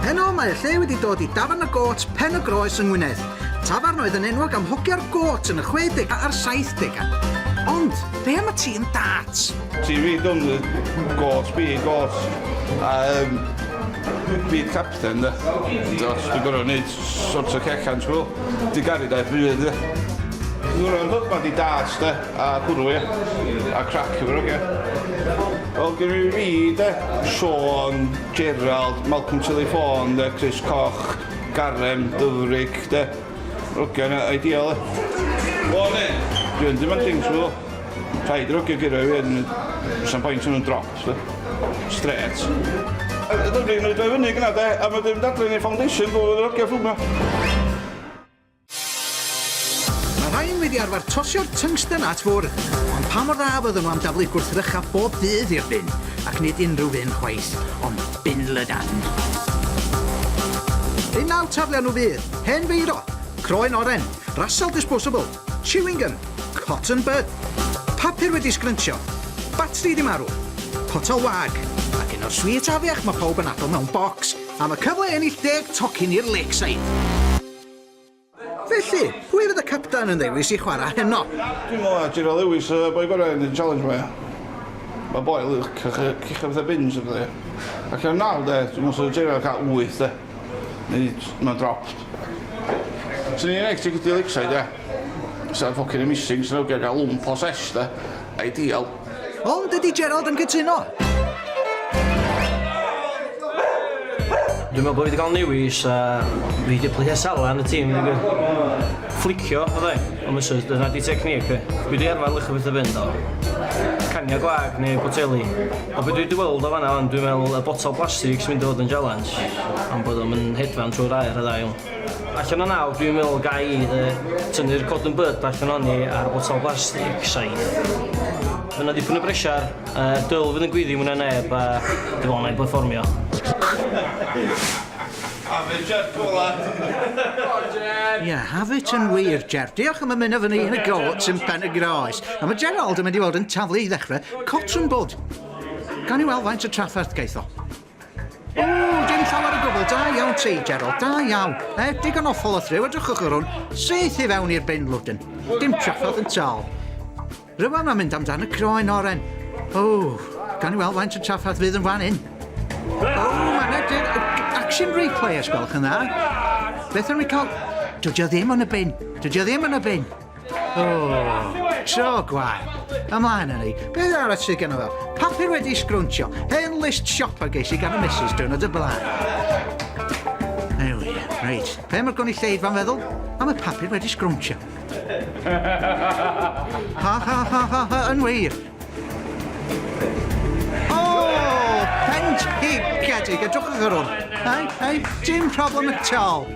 Heno mae y lle wedi dod i Dafarn y Gôt, Pen y Groes yng Ngwynedd. Tafarn oedd yn enwog am hogio'r gôt yn y 60 a'r 70au. Ond, be am y ti yn darts? Ti fi dwn y gôt, fi gôt. A um, fi capten, da. Dos, dwi'n gorau wneud Sorts o cecans hwyl. Di garu daeth rhy hyd ie. Nhw ro'n husband i darts de a hwrw ie. A crac efo'r ogia. Wel gynna fi fi de, Siôn, Gerald, Malcolm Tilly Fawn de, Chris Coch, Garem, Dyfrig de. Yr ogia yna ideal ie. Morning. Dwi'n demanding t'wel. Rhaid i'r hogiau gyrraedd fi wedyn, does na'm point yn nhw'n drop, de. Strêt. Yy dyna ni'n mynd o'i fyny gyna de, a wedyn mynd adre yn ei foundation bob oedd yr hogiau'n ffilmio. Mae rhain wedi arfer tosio'r tungsten at ffwrdd, ond pa mor dda fydden nhw am daflu gwrthrychau bob dydd i'r bin? Ac nid unrhyw fin chwaith, ond bin lydan. Unawd taflion nhw fydd, hen feiro, croen oren, rasal disposable, Chewing gum, cotton bud, papur wedi sgryntsio, batri di marw, potel wag, ac un o'r sweets afiach mae pawb yn addo mewn bocs am y cyfle i ennill deg tocyn i'r Lakeside. Felly, pwy fydd y capten yn ddewis i chwarae heno? Dwi'n meddwl na Tyrell Lewis y boi gorau yn y challenge ma ia. Mae boi lyc a chi'n gwybod fatha bins a pethau. Allan o naw de, dwi'n meddwl 'sa Tyrell yn cael wyth de. Neu mae'n dropped. Swn i'n enghraifft ydy Lakeside ia. Sa'n ffocin amazing swn i'n awdio gael lwmp o sesh de. Ideal. Ond ydy Gerald yn cytuno? Dwi'n meddwl bod fi wedi cael newis a fi wedi plethu Salah yn y tîm i ddweud. Fflicio oedd e, ond misus, dyna di technique fi. Dwi wedi arfer licio pethau fynd o caniau gwag neu boteli. A be dwi 'di weld o fanna wan dwi'n me'wl y botel blastig sy'n mynd i fod yn jialens am bod o'm yn hedfan trw'r aer y' dda iawn. Allan o naw dwi'n me'wl ga i yy tynnu'r cotton bud allan ohoni a'r botel blastig saith. Ma' 'na dipyn o bresiar yy dwl fydd yn gwyddu mwy na neb a dwi me'wl 'nai berfformio. Have it Jeff go on lan. Ie have it yn wir Jeff. Diolch am ymuno efo ni yn y gôt yn Pen-y-groes. A ma' Gerald yn mynd i fod yn taflu i ddechre Cotrwm bod. Gawn ni weld faint o trafferth gaeth o. O, dim llawer o gwbl. Da iawn ti, Gerald. Da iawn. E, digon o ffol o thryw, edrychwch ar hwn. Syth i fewn i'r bin lwdyn. Dim trafferth yn tal. Rwy'n mae'n mynd amdan y croen oren. O, gawn ni weld faint o trafferth fydd yn fan hyn. O, mae'n edrych action replay, os gwelwch yn dda. Beth yn rwy'n cael? Dydy o ddim yn y bin. Dydy o ddim yn y bin. Oh, tro gwael. Ymlaen yn ei. Beth arall sydd gen o fel? Papur wedi sgrwntio. Hen list siopa geis i gan y missus diwrnod y blaen. Ei wir, reit. Pe mae'r gwni lleid fan feddwl, am y papur wedi sgrwntio. Ha ha ha ha ha, yn wir. Bendigedig, edrychwch ar hwn. Hei, hei, dim problem at all.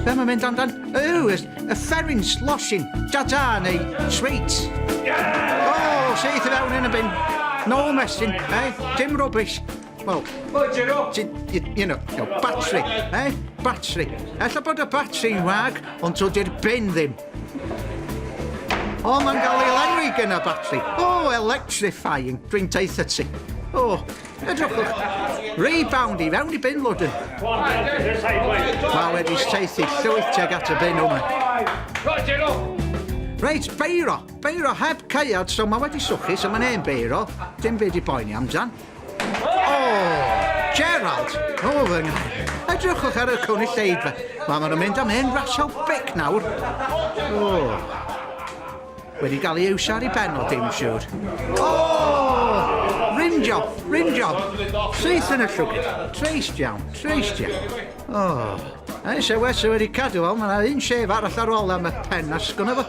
Be mae'n mynd amdan? Yw, y fferin slosin, dada neu sweit. O, seith i fewn yn y bin. No messin, hei, dim rubbish. Wel, you know, batri, eh? Batri. Ella bod y batri'n wag, ond to di'r bin ddim. O, mae'n cael ei lenwi gen y batri. O, electrifying. Dwi'n taith y ti. O, edrychwch. Rebound i fewn i bin lwdyn. Mae wedi steithi llwyth teg at y bin yma. Roger, o! Reit, beiro. Beiro heb caead, so mae wedi swchu, so mae'n hen beiro. Dim byd i boeni amdan. Gerald! O, fy nghael. Edrychwch ar y cynulleidfa. Mae maen nhw'n mynd am hen rasio bec nawr. O! Wedi gael ei iwsio ar ei ben o dim siwr. O! Rim job, rim job. Syth yn y llwgyd. Treist iawn, treist iawn. O! A'i sewes wedi cadw fel, mae yna un sef arall ar ôl am y pen asgwn efo.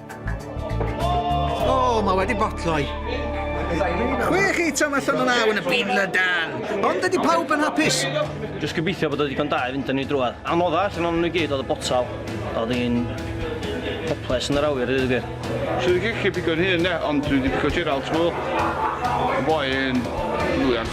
O, oh, mae wedi botloi. Chwe chi tam allan o'n awn y byd lydan. Ond ydy pawb yn hapus? Just gobeithio bod o ddigon da i fynd yn ei drwad. Anodda allan o'n nhw gyd oedd y botal. Oedd hi'n hoples yn yr awyr, dweud y gwir. Sydd wedi gallu bigo'n hyn, ne? Ond dwi wedi bigo Gerald, ti'n gwybod? Y boi yn lwyan.